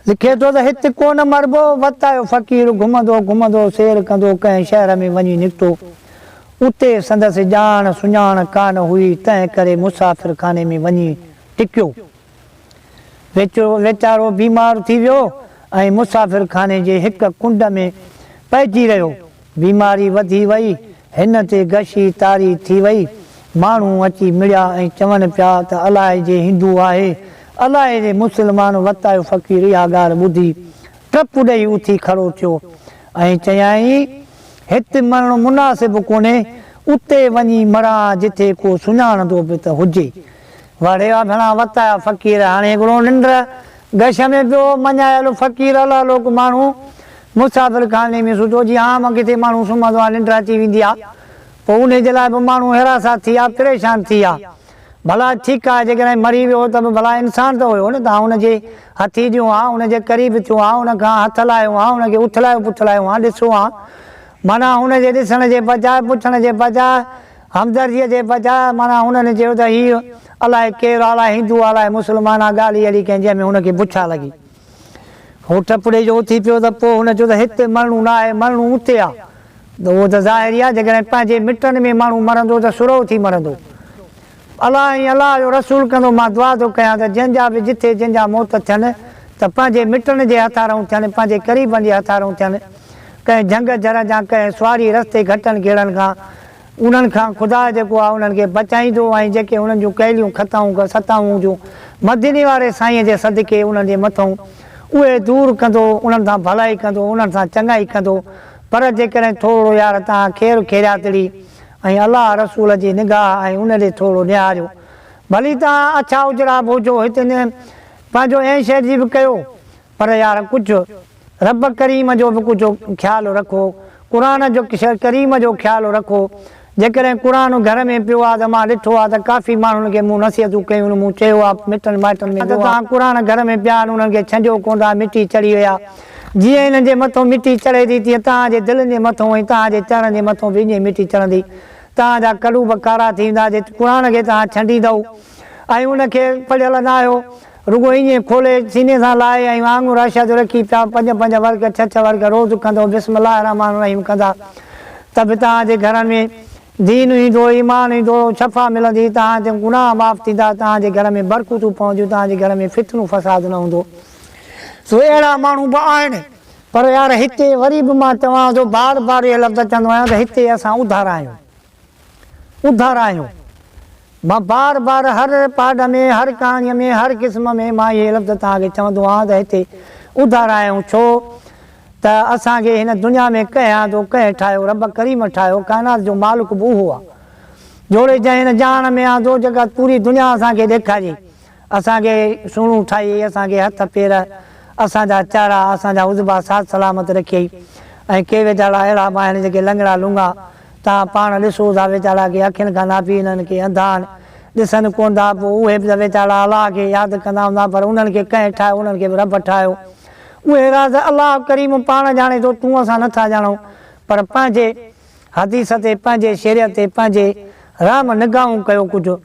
لکي ٿو ته هت ڪونه مربو وت آيو فقير گهمندو گهمندو سير ڪندو ڪنهن شهر ۾ وڃي نڪتو اتي سندس ڄاڻ سڃاڻ ڪانه هئي تنهن ڪري مسافر خاني ۾ وڃي ٽڪيو ويچرو ويچارو بيمار ٿي ويو ۽ مسافر خاني جي هڪ ڪنڊ ۾ پئجي رهيو. بيماري وڌي وئي، هن تي غشي طاري ٿي وئي. ماڻهو اچي مڙيا ۽ چون پيا ته الاهي جي هندو آهي، الاهي جي مسلمان وتايو فقير اها ڳالهه ٻڌي ٽپ ڏئي اٿي کڙو ٿيو ۽ چيائين، هت مرڻ مناسب ڪونهي، اتي وڃي مران جتي ڪو سڃاڻندو به ته هجي. واڙي آ گهڻا وقت آيا فقير هاڻي هڪڙو ننڊ گش ۾ پيو مڃايل فقير الا لو ڪو ماڻهو مسافر خاني ۾ ستو جي ها مان ڪٿي ماڻهو سمهندو آ ننڊ اچي ويندي آ پوء انهي جي لاء به ماڻهو هراسان ٿي آ پريشان ٿي آ ڀلا ٺيڪ آ جيڪڏهن مري ويو ته به ڀلا انسان ته هيو نه ته آئون ان جي هٿي ڏيون ها ان جي قريب ٿيون ها ان کان هٿ لاهيون ها ان کي اٿلايو پٿلايون ها ڏسون ها معنيٰ ان جي ڏسڻ جي بجاء پڇڻ جي بجاء همدرديء جي بجاء معنيٰ هنن چيو ته هيء الائي ڪير آ، الائي هندو آ، الائي مسلمان آ، ڳالهه ئي اهڙي ڪنهن جنهن ۾ هن کي بڇا لڳي. هو ٽپڙي جو اٿي پيو ته پوء هن چيو ته هت مرڻو نه آهي، مرڻو اتي آ. اهو ته ظاهر ئي آ جيڪڏهن پنهنجي مٽن ۾ ماڻهو مرندو ته سرهو ٿي مرندو. الله ۽ الله جو رسول ڪندو مان دعا ٿو ڪيان ته جنهن جا به جٿي جن جا موت ٿين ته پنهنجي مٽن جي هٿارئون ٿين، پنهنجي قريبن جي هٿارئون ٿين. ڪنهن جهنگ جھر جان ڪنهن سواري رستي گھٽن گھيڙن کان انهن کان خدا جيڪو آهي انهن کي بچائيندو ۽ جيڪي انهن جون ڪيليون خطائون ڪن ستائون جون مديني واري سائينء جي صدقي انهن جي مٿئون اهي دور ڪندو انهن سان ڀلائي ڪندو انهن سان چڱائي ڪندو پر جيڪڏهن ٿورڙو يار توهان خير خيرياتڙي ۽ الله رسول جي نگاهه آهي ان ڏي ٿورڙو نهاريو ڀلي توهان اڇا اجرا به هجو هتي نه پنهنجو اين شير جي به ڪيو پر يار ڪجهه رب ڪريم جو به ڪجهه خيال رکو قرآن جو ڪريم جو خيال رکو جيڪڏهن قرآن گهر ۾ پيو آ ته مان ڏٺو آ ته ڪافي ماڻهن کي مون نصيحتون ڪيون مون چيو آ مٽن مائٽن ۾ ته توهان قرآن گهر ۾ پيا آهن انهن کي ڇنڊيو ڪونه ٿا مٽي چڙهي وئي آ جيئن انهن جي مٿو مٽي چڙهي ٿي تيئن توهان جي دلين جي مٿو ۽ توهان جي چهرن جي مٿو به ائين ئي مٽي چڙهندي توهان جا قلوب ڪارا ٿي ويندا جي قرآن کي توهان ڇنڊيندؤ ۽ ان کي پڙهيل نه آهيو رڳو ايئن کولي سيني سان لاهي ۽ وانگر عائشه جو رکي پيا پنج پنج ورق ڇهه ڇهه ورق روز ڪندو بسم الله الرحمٰن الرحيم ڪندا ته به توهان جي گهرن ۾ دين ايندو ايمان ايندو شفا ملندي توهان جا گناهه معاف ٿيندا توهان جي گهر ۾ برڪتون پونديون توهان جي گهر ۾ فتنو فساد نه هوندو سو اهڙا ماڻهو به آهن پر يار هتي وري به مان توهان جو بار بار اهي لفظ چوندو آهيان ته هتي اسان اڌارا آهيون. ٻڌار آهيون. مان بار بار هر رپارڊ ۾ هر ڪهاڻي ۾ هر قسم ۾ مان اهي لفظ توهان کي چوندو آهيان ته هتي ٻڌار آهيون ڇو ته اسان کي هن دنيا ۾ ڪنهن آندو ڪنهن ٺاهيو رب ڪريم ٺاهيو ڪائنات جو مالڪ به اهو آهي جوڙي جنهن هن جهان ۾ آندو جيڪا پوري دنيا اسان کي ڏيکاري اسان کي سهڻو ٺاهيئي، اسان کي هٿ پير، اسان جا چاڙها، اسان جا عضبا ساٿ سلامت رکيئي ۽ ڪي ويجاڙا اهڙا به آهن جيڪي لنگڙا لونگا، توهان پاڻ ڏسو ٿا ويجاڙا ڪي اکين کان نابين آهن ڪي انڌا آهن، ڏسن ڪونه ٿا، پوء اهي به ته ويجاڙا الله کي ياد ڪندا هوندا پر انهن کي ڪنهن ٺاهيو، انهن کي به رب ٺاهيو، اهي راز الله ڪريم پاڻ ڄاڻي ٿو، تون اسان نٿا ڄاڻون پر پنهنجي. حديث تي پنهنجي شريعت تي پنهنجي رحم نگاهون ڪيو ڪجهه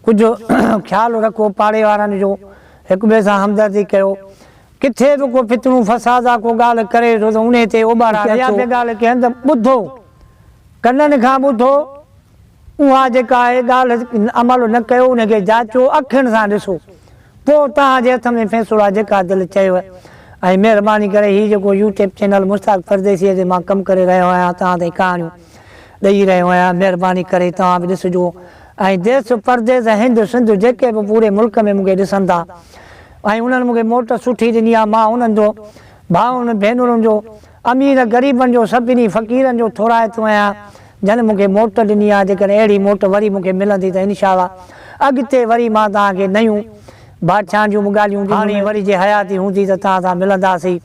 ڪجهه خيال رکو پاڙي وارن جو هڪ ٻئي سان همدردي ڪيو ڪٿي به ڪو فتنو فساد آ ڪو ڳالهه ڪري ٿو ته انهي تي اوٻارا رکو اها به ڳالهه ڪنهن هنڌ ٻڌو ڪنن کان ٻڌو اها جيڪا آهي ڳالهه عمل نه ڪيو ان کي جاچو اکين سان ڏسو پوء توهان جي هٿ ۾ فيصلو آهي جيڪا دل چيو ۽ مهرباني ڪري هي جيڪو يوٽيپ چينل مشتاق پرديسيء تي مان ڪم ڪري رهيو آهيان توهان تائين ڪهاڻيون ڏئي رهيو آهيان مهرباني ڪري توهان به ڏسجو ۽ ديس پرديس ۽ هند سنڌ جيڪي به پوري ملڪ ۾ مونکي ڏسن ٿا ۽ انهن مونکي موٽ سٺي ڏني آهي مان انهن جو ڀائرن ڀينرن جو، امير غريبن جو، سڀني فقيرن جو ٿورائتو آهيان جن مون کي موٽ ڏني آهي، جيڪڏهن اهڙي موٽ وري مون کي ملندي ته انشاء الله اڳتي وري مان توهان کي نيون ڀاڇان جون به ڳالهيون ڏيندس. هاڻي وري جي حياتي هوندي ته توهان سان ملنداسين.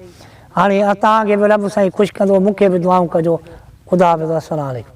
هاڻي توهان کي به رب سائين خوش ڪندو مون کي به دعائون ڪجو. خدا حافظ السلام عليڪم.